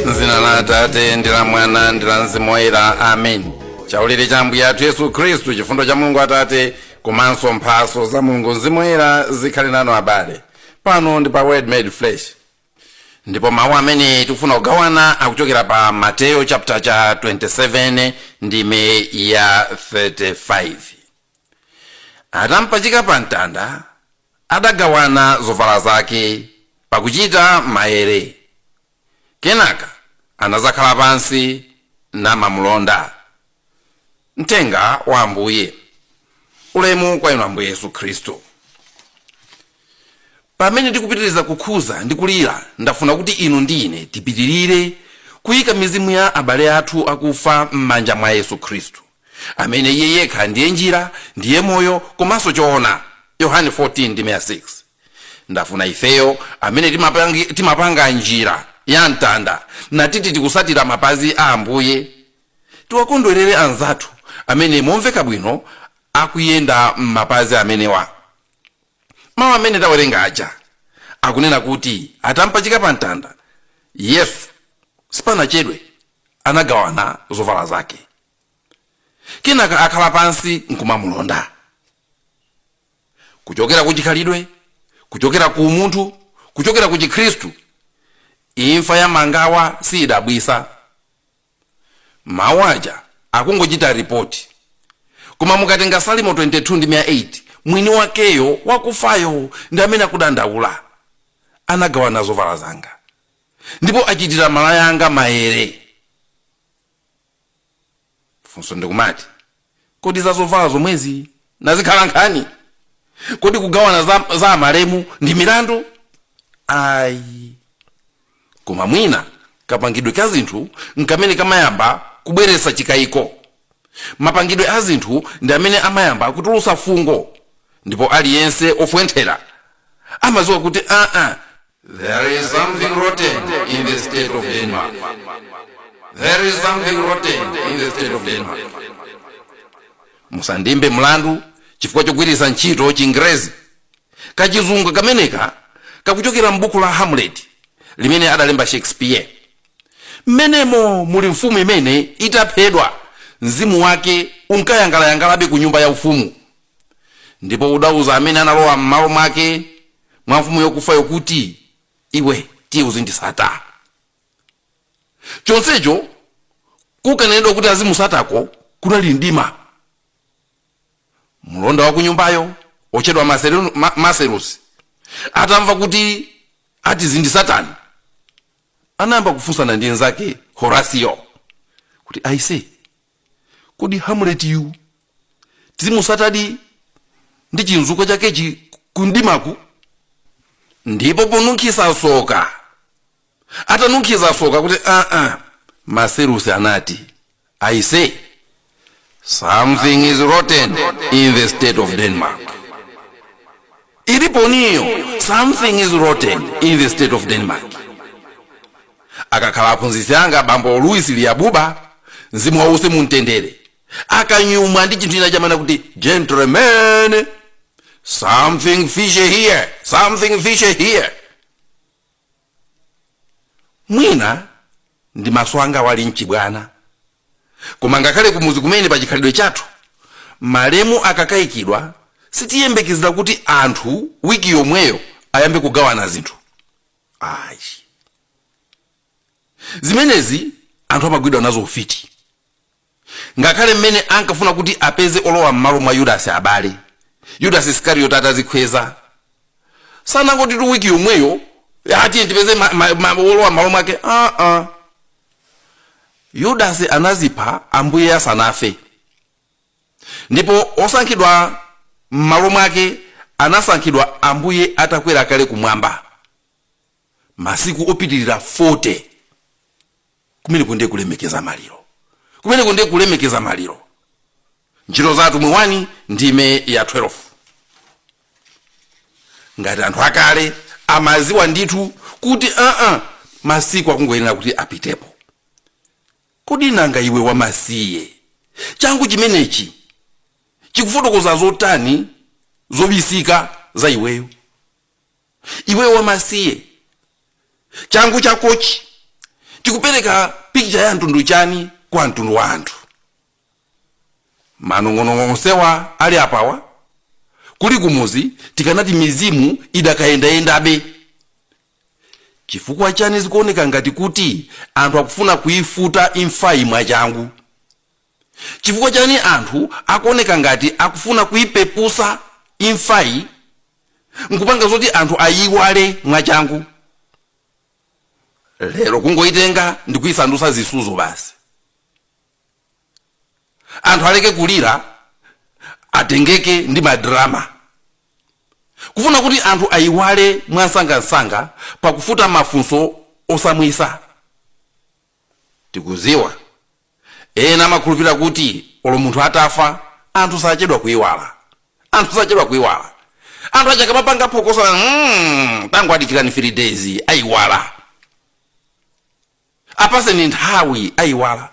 m'dzina la atate ndi la mwana ndi la mzimu woyera amen chaulere cha ambuye athu yesu khristu chifundo cha mulungu atate komanso mphatso za mulungu mzimu woyera zikhale nanu abale pano ndi pa word made flesh ndipo mawu amene tikufuna kugawana akuchokera pa mateyo chapter cha 27 ndime ya 35 atampachika pa mtanda adagawana zovala zake pakuchita maere. Kenaka anadzakhala pansi namamulonda. Mthenga wa Ambuye. Ulemu kwa inu Ambuye Yesu Khristu. Pamene tikupitiriza kukhuza ndi kulira, ndafuna kuti inu ndi ine tipitirire kuyika mizimu ya abale athu akufa m'manja mwa Yesu Khristu. amene iye yekha ndiye njira ndiye moyo komanso choona yohane 14 ndime ya 6 ndafuna ifeyo amene timapangi- timapanga njira ya mtanda natiti tikusatira mapazi a ambuye tiwakondwerere anzathu amene momveka bwino akuyenda m'mapazi amenewa mawu amene tawerenga aja akunena kuti atampachika pa mtanda yesu sipanachedwe anagawana zovala zake kenaka akhala pansi nkumamulonda kuchokera ku chikhalidwe kuchokera ku umunthu kuchokera ku chikhristu imfa ya mangawa siyidabwisa mawu aja akungochita ripoti koma mukatenga salimo 22 ndi 8 mwini wakeyo wakufayo ndi amene akudandaula anagawana zovala zanga ndipo achitira malaya anga mayere funso ndi kumati kodi za zovala zomwezi nazikhala nkhani kodi kugawana za, za malemu ndi milandu ayi koma mwina kapangidwe ka zinthu nkamene kamayamba kubweretsa chikayiko mapangidwe a zinthu ndi amene amayamba kutulutsa fungo ndipo aliyense ofwenthera amadziwa kuti aa There is something rotten in the state of Denmark. There is something rotten in the state of Denmark. musandiimbe mlandu chifukwa chogwiritsa ntchito chingerezi kachizungu kameneka kakuchokera m'buku la hamlet limene adalemba shakespeare mmenemo muli mfumu imene itaphedwa mzimu wake unkayangalayangalabe ku nyumba ya ufumu ndipo udauza amene analowa m'malo mwake mwa mfumu yokufayo kuti, Iwe tiye uzindisata. Chonsecho kukanenedwa kuti azimusatako kunali mdima. Mlonda wa kunyumbayo otchedwa Marcellus atamva kuti atizindisatani anayamba kufunsana ndi nzake Horatio kuti aise kodi Hamlet-yu tizimusatadi ndi chimzukwa chakechi kumdimaku ndipo ponunkhiza soka atanunkhiza soka kuti aa Marcellus anati i say something is rotten in the state of Denmark iliponiyo something is rotten in the state of Denmark akakhala aphunzitsi anga bambo Louis Liabuba mzimu wawo uwuse mumtendere akanyumwa ndi chinthu china amanena kuti gentlemen something fishy here something fishy here mwina ndi maso anga ali mchibwana koma ngakhale kumuzi kumene pa chikhalidwe chathu malemu akaikidwa sitiyembekezera kuti anthu wiki yomweyo ayambe kugawana zinthu ayi zimenezi anthu amagwidwa nazo ufiti Ngakhale mmene ankafuna kuti apeze olowa mmalo mwa Yudasi abale, Yudasi Iskariyoti atazikhweza, sanangotitu wiki yomweyo "Ah, tiye tipeze olowa mmalo mwake aa Yudasi anazipha ambuye asanafe ndipo osankhidwa mmalo mwake anasankhidwa ambuye atakwera kale kumwamba masiku opitirira 40 kumeneko ndiye kulemekeza maliro kumeneko ndiye kulemekeza maliro Ntchito za Atumwi 1 ndime ya 12 ngati anthu akale amaziwa ndithu kuti aa masiku akungoyenera kuti apitepo kodi nanga iwe wamasiye changu chimenechi chikufotokoza zotani zobisika za iweyo iweyo wamasiye changu chakochi chikupereka pikicha ya mtundu chani kwa mtundu wa anthu manong'onong'o onsewa ali apawa kuli kumuzi tikanati mizimu idakayendayendabe chifukwa chani zikuoneka ngati kuti anthu akufuna kuifuta imfayi mwachangu Chifukwa chani anthu akuoneka ngati akufuna kuipepusa imfayi nkupanga zoti anthu ayiiwale mwachangu? Lero kungoitenga ndikuisandusa zisudzo basi. Anthu aleke kulira atengeke ndi ma drama. Kufuna kuti anthu ayiwale mwamsangamsanga pakufuta mafunso osamwisa. Tikuziwa. Ena amakhulupirira kuti olo munthu atafa, anthu sachedwa kuiwala. Anthu sachedwa kuiwala. Anthu aja akamapanga phokoso, tangowadikirani 3 days, aiwala. Apaseni nthawi, aiwala.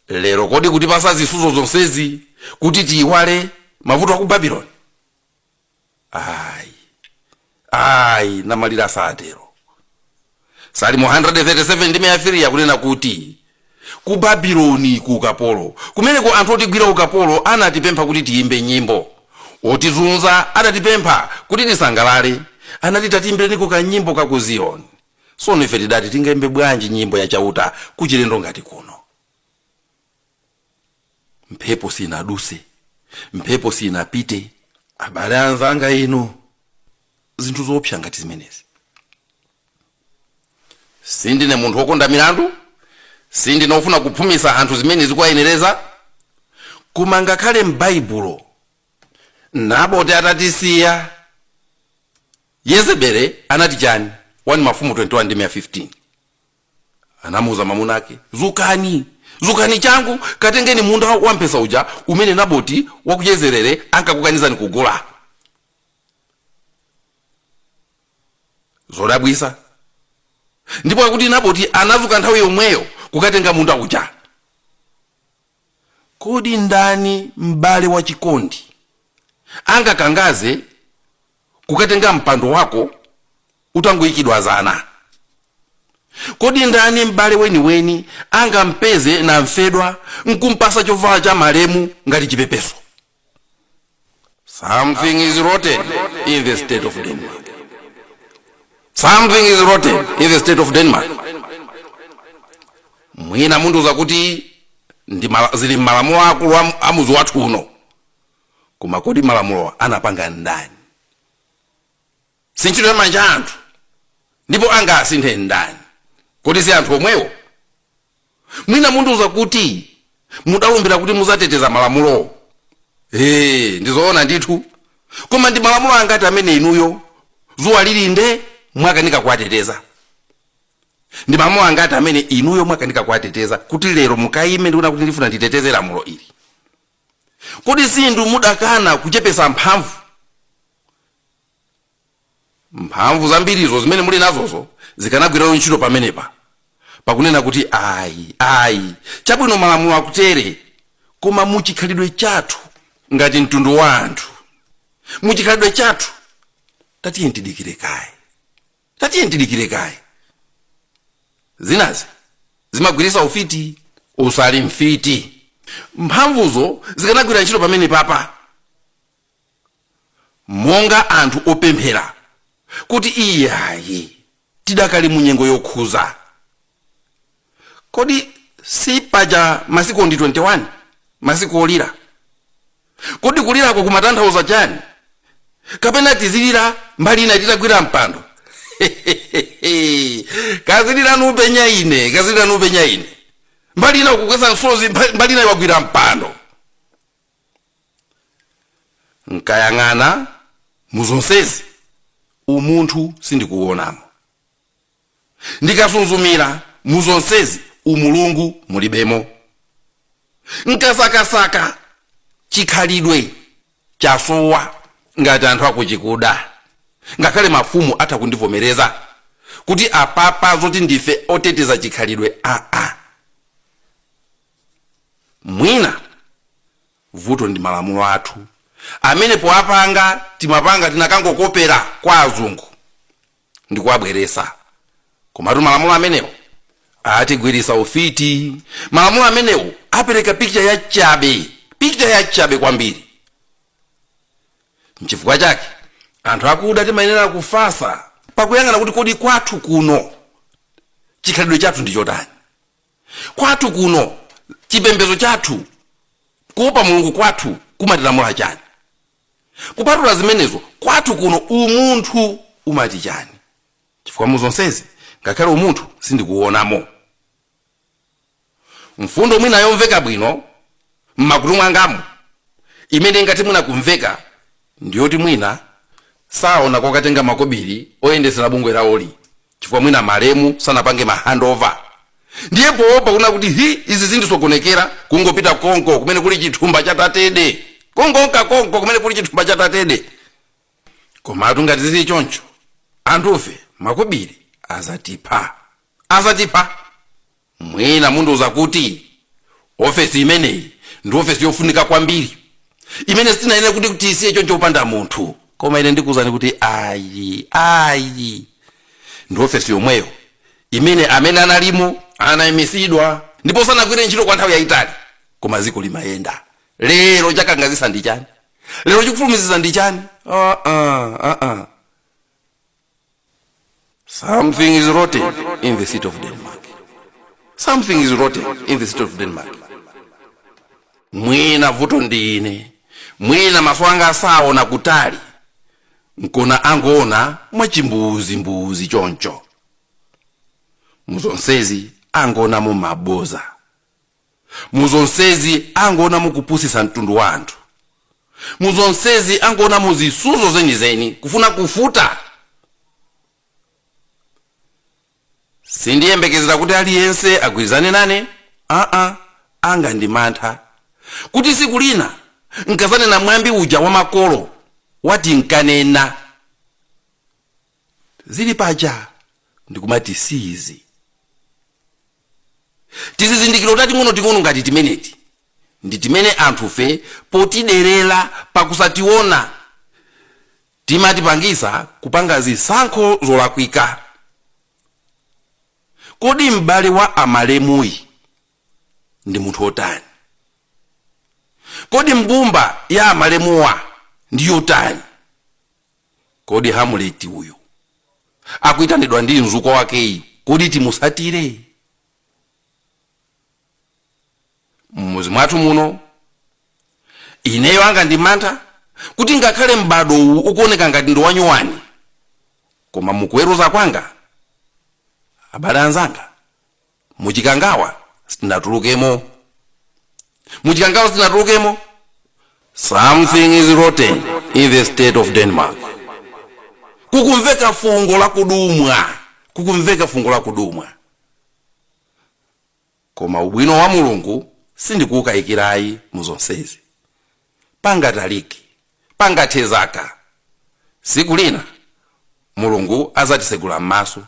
Lero kodi kutipasa zisuzo zonsezi kuti tiiwale mavuto a ku Babiloni? ayi ayi namalira satero salimo 137 ndime ya 3 ikunena kuti ku babiloni ku ukapolo kumeneko anthu otigwira ukapolo anatipempha kuti tiyimbe nyimbo otizunza adatipempha kuti tisangalale anati tatiimbireniko kanyimbo ka ku ziyoni sono ife tidati tingayimbe bwanji nyimbo ya chauta kuchilendo ngati kuno mphepo sinaduse mphepo sinapite abale anzanga inu zinthu zoopsa ngati zimenezi sindine munthu wokonda milandu sindine wofuna kuphumisa anthu zimene zikuwayenereza koma ngakhale m'baibulo naboti atatisiya yezebele anati chani 1 mafumu 21 ndi 15 anamuuza mamuna ake zukani zukani changu katengeni munda wa mpesa uja umene naboti wa ku jezerere ankakukanizani kugula zodabwisa ndipo akuti naboti anazuka nthawi yomweyo kukatenga munda uja kodi ndani m'bale wa chikondi angakangaze kukatenga mpando wako utangoyikidwa zana kodi ndani m'bale weniweni angampeze namfedwa nkumpasa chovala cha malemu ngati chipepeso something is rotten in the state of denmark something is rotten in the state of denmark mwina mundiuza kuti ndi mala- zili m'malamulo akulu a- a mudzi wathu uno koma kodi malamulowa anapanga ndani si ntchito ya manja a anthu ndipo angasinthe ndani kodi si anthu omwewo mwina mundiuza kuti mudalumbira kuti muzateteza malamulowo ee ndizoona ndithu koma ndi malamulo angati amene inuyo zuwa lili nde mwakanika kuwateteza ndi malamulo angati amene inuyo mwakanika kuwateteza kuti lero mukayime ndikunena kuti ndifuna nditeteze lamulo ili Kodi si inu mudakana kuchepetsa mphamvu? Mphamvu zambirizo zimene muli nazozo zikanagwiratu ntchito pamenepa. Pakunena kuti, Ayi, ayi, chabwino malamulo akutere, koma mu chikhalidwe chathu ngati mtundu wa anthu, mu chikhalidwe chathu, tatiyeni tidikire kaye. tatiyeni tidikire kaye zinazi zimagwirisa ufiti usali mfiti mphamvuzo zikanagwira ntchito pamenepapa monga anthu opemphera kuti iyayi tidakali mu nyengo yokhuza kodi si paja masiku ndi 21 masiku olira kodi kulirako kumatanthauza chani kapena tizilira mbali ina titagwira mpando kazilirani upenya ine kazilirani upenya ine mbali ina ukugwetsa msozi mba- mbali ina wagwira mpando nkayang'ana muzonsezi umunthu sindikuwonamo ndikasuzumira mu zonsezi umulungu mulibemo nkasakasaka chikhalidwe chasowa ngati anthu akuchikuda ngakhale mafumu atha kundivomereza kuti apapa zoti ndife oteteza chikhalidwe aa mwina vuto ndi malamulo athu amene powapanga timapanga tinakangokopera kwa azungu ndi kuwabweresa komatu malamulo amenewo atigwirisa ufiti malamulo amenewo apereka picture ya chabe picture ya chabe kwambiri nchifukwa chake anthu akuda timayenera kufasa pakuyang'ana kuti kodi kwathu kuno chikhalidwe chathu ndi chotani kwathu kuno chipembezo chathu kuopa mulungu kwathu kumatilamula chani kupatula zimenezo kwathu kuno umunthu umati chani chifukwa mu zonsezi ngakhale umunthu sindikuwonamo mfundo mwina yomveka bwino mmakutu mwangamu imene ingati mwina kumveka ndiyoti mwina saona kokatenga makobiri oyendetsera bungwe lawoli chifukwa mwina malemu sanapange ma handover ndiye poopa kuna kuti hi izi zindisokonekera kungopita konko kumene kuli chithumba cha tatede kungonka konko kumene kuli chithumba cha tatede komatu ngati zili choncho anthufe makobiri azatipha azatipha Mwina mundiuza kuti, Ofesi imeneyi ndi ofesi yofunika kwambiri imene sitinayenere kuti tiisiye choncho popanda munthu. Koma ine ndikuuzani kuti ayi, ayi. Ndi ofesi yomweyo imene amene analimo anaimisidwa ndipo sanagwire ntchito kwa nthawi yaitali. Koma dziko limayenda. Lero chakangazitsa ndi chani? Lero chikufulumizitsa ndi chani? Aa, aa. Something is rotten in the city of Denmark. Something is rotten in the city of Denmark. Mwina vuto ndi ine, mwina maso anga saona kutali, nkona angoona mwachimbuuzi mbuuzi choncho. Muzonsezi angoonamo maboza. muzonsezi angoonamo kupusitsa mtundu wa anthu muzonsezi angoonamo zisuzo zenizeni kufuna kufuta sindiyembekezera kuti aliyense agwirizane nane aa anga ndi mantha kuti siku lina nkazanena mwambi uja wa makolo wati nkanena zili paja ndikumati siizi tizizindikiro tating'ono ting'ono ngati timeneti ndi timene anthufe potiderera pakusationa timatipangisa kupanga zisankho zolakwika kodi m'bale wa amalemuyi ndi munthu otani kodi mbumba ya amalemuwa ndi yotani Kodi Hamuleti uyu akuitanidwa ndi mzukwa wakeyu kodi timusatire? M'mudzi mwathu muno ineyo anga ndi mantha kuti ngakhale m'bado uwu ukuoneka ngati ndi wanyuwani, koma mukuweruza kwanga, abale anzanga, muchikangawa sitinatulukemo muchikangawa sitinatulukemo something is rotten in the state of denmark kukumveka fungo la kudumwa kukumveka fungo la kudumwa koma ubwino wa mulungu sindikuwukayikirayi mu zonsezi pangatalike pangathe zaka tsiku lina mulungu azatitsegula m'maso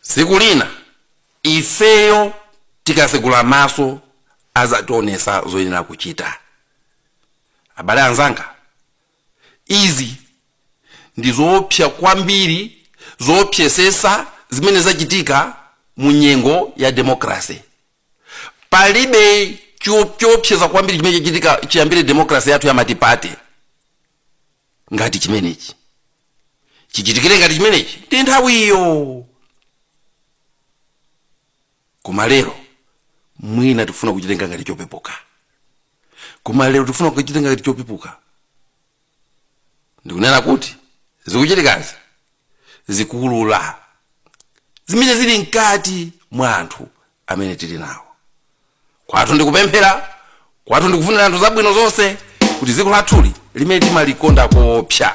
tsiku lina ifeyo tikatsegula maso azationesa zoyenera kuchita abale anzanga izi ndi zoopsa kwambiri zoopsesesa zimene zachitika mu nyengo ya demokrase palibe choopseza kwambiri chimene chachitika chiyambire demokrasi yathu ya matipate ngati chimenechi chichitikire ngati chimenechi ndi nthawiyo koma lero mwina tifuna kuchitenga ngati chopepuka koma lero tifuna kuchitenga ngati chopepuka ndikunena kuti zikuchitikazi zikuulula zimene zili mkati mwa anthu amene tili nawo kwathu ndikupemphera kwathu ndikufunira anthu zabwino zonse kuti dziko lathuli limene timalikonda koopsa